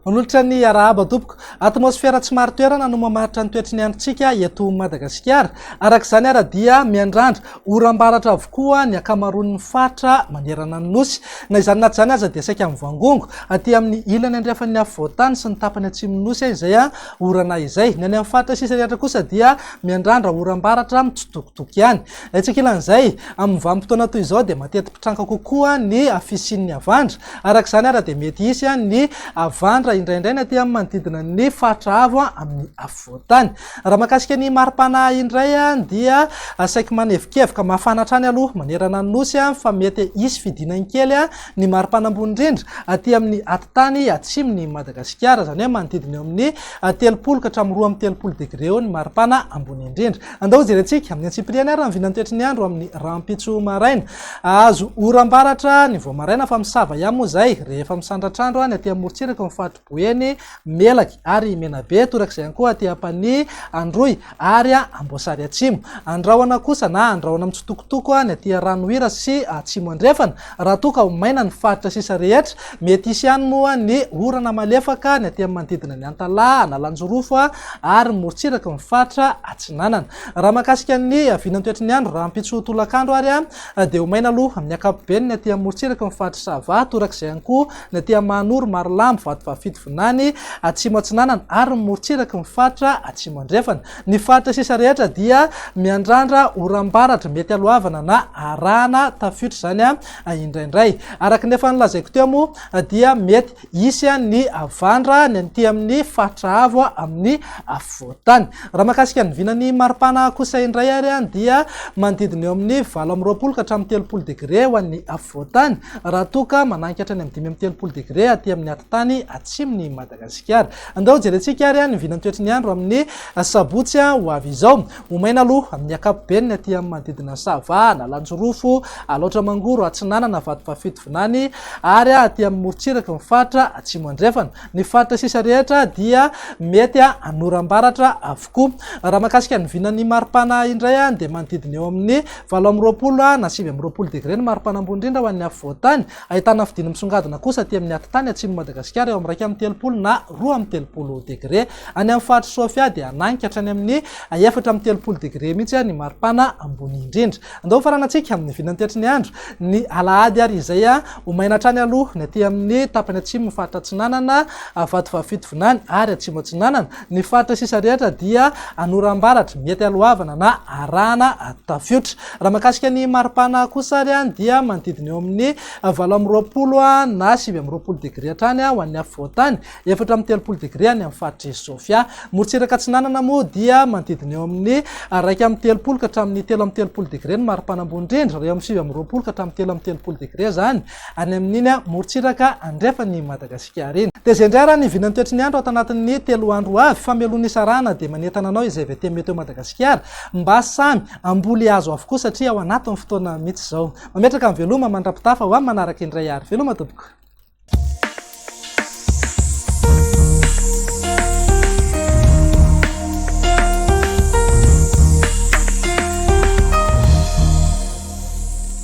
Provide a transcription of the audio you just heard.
Manolotra ny arahaba tompoko. Atmosfera tsy marin-toerana no mamaritra ny toetry ny androntsika eto Madagasikara. Araka izany ary dia miandrandra Oram-baratra avokoa ny ankamaroan'ny faritra manerana ny Nosy. Na izany na tsy izany aza dia saika mivangongo. Aty amin'ny ilany andrefan'ny afovoan-tany sy ny tapany atsimon'ny Nosy izay orana izay. Ny any amin'ny faritra sisa rehetra kosa dia miandrandra oram-baratra mitsitokotoko ihany. Etsy ankilan'izay, amin'ny vanim-potoana toy izao dia mateti-pitranka kokoa ny fisian'ny havandra. Araka izany ary dia mety hisy ny havandra indraindray ny aty amin'ny manodidina ny faritra avo amin'ny afovoan-tany. Raha mahakasika ny maripana indray dia saiky manevokevoka mafana hatrany aloha manerana ny nosy fa mety hisy fidinany kely ny maripana ambony indrindra aty amin'ny atitany atsimon'i Madagasikara, izany hoe manodidina eo amin'ny telopolo ka hatramin'ny roa amby telopolo degre eo ny maripana ambony indrindra. Andao jerentsika amin'ny antsipiriany ary ny vinantoetry ny andro amin'ny rahampitso maraina. Ahazo oram-baratra ny vao maraina fa misava ihany moa izay rehefa misandratr'andro any aty amorontsiraka ao amin'ny Boeny, Melaky ary Menabe, torak'izay ihany koa aty Ampanihy, Androy ary Amboasary Atsimo. Andrahona kosa na andrahona mitsitokotoko ny aty Ranohira sy Atsimo Andrefana. Raha toa ka ho maina ny faritra sisa rehetra, mety hisy ihany moa ny orana malefaka ny aty amin'ny manodidina an'i Antalaha, Analanjirofo ary morontsiraky ny faritra Atsinanana. Raha mahakasika ny vinantoetry ny andro rahampitso tolakandro ary dia ho maina aloha amin'ny ankapobeny ny aty amorontsiraky ny faritra Sava, torak'izay ihany koa Ny aty Amanoro, Marolambo, Vatovafidy, Vinany, Atsimo Atsinanana ary ny morontsiraky ny faritra Atsimo Andrefana. Ny faritra sisa rehetra dia miandrandra oram-baratra, mety haloavana na arahana tafiotra izany indraindray. Araka ny efa nolazaiko teo moa dia mety hisy ny havandra ny aty amin'ny faritra avo amin'ny afovoan-tany. Raha mahakasika ny vinan'ny maripana kosa indray ary dia manodidina eo amin'ny valo amby roapolo ka hatramin'ny telopolo degre ho an'ny afovoan-tany. raha toa ka mananky hatrany amin'ny dimy amby telopolo degre aty amin'ny atitany atsimon'i Madagasikara. Andao jerentsika ary ny vinantoetry ny andro amin'ny sabotsy ho avy izao. Ho maina aloha amin'ny ankapobeny ny aty amin'ny manodidina Sava, Analanjirofo, Alaotra Mangoro, Atsinanana, Vatovafidy, Vinany ary aty amin'ny morontsiraky ny faritra Atsimo Andrefana. Ny faritra sisa rehetra dia mety hanoram-baratra avokoa. Raha mahakasika ny vinan'ny maripana indray dia manodidina eo amin'ny Valo amby roapolo ha na sivy amby roapolo degre ny maripana ambony indrindra ho an'ny afovoan-tany, ahitana fidiny misongadina kosa aty amin'ny atitany atsimon'i Madagasikara eo amin'ny iraika amby telopolo na roa amby telopolo degre. Any amin'ny faritr'i Sofia dia hananika hatrany amin'ny efatra amby telopolo degre mihitsy ny maripana ambony indrindra. Andao hofaranantsika amin'ny vinany tetry ny andro ny alahady ary izay ho maina hatrany aloha ny aty amin'ny tapany atsimon'ny faritra Atsinanana, Vatovavy Fitovinany ary Atsimo Atsinanana. Ny faritra sisa rehetra dia an'oram-baratra, mety alohavana na arahana tafiotra. Raha mahakasika ny mari-pana kosa ary dia manodidina eo amin'ny valo amby roapolo na sivy amby roapolo degre hatrany ho an'ny afovoan-tany, efatra amby telopolo degre any amin'ny faritr'i Sofia. Morontsiraka Atsinanana moa dia manodidina eo amin'ny iraika amby telopolo ka hatramin'ny telo amby telopolo degre ny mari-pana ambony indrindra, raha eo amin'ny sivy amby roapolo ka hatramin'ny telo amby telopolo degre izany Any amin'iny morontsiraka andrefan'i Madagasikara iny. Dia izay indray ary ny vinan'ny toetry ny andro ato anatin'ny telo andro ho avy, fa mialoha ny hisarahana dia manentana anao izay VT Météo Madagasikara mba samy hamboly hazo avokoa satria ao anatin'ny fotoana mihitsy izao. Mametraka ny veloma mandrapitafa ho amin'ny manaraka indray ary. Veloma tompoko.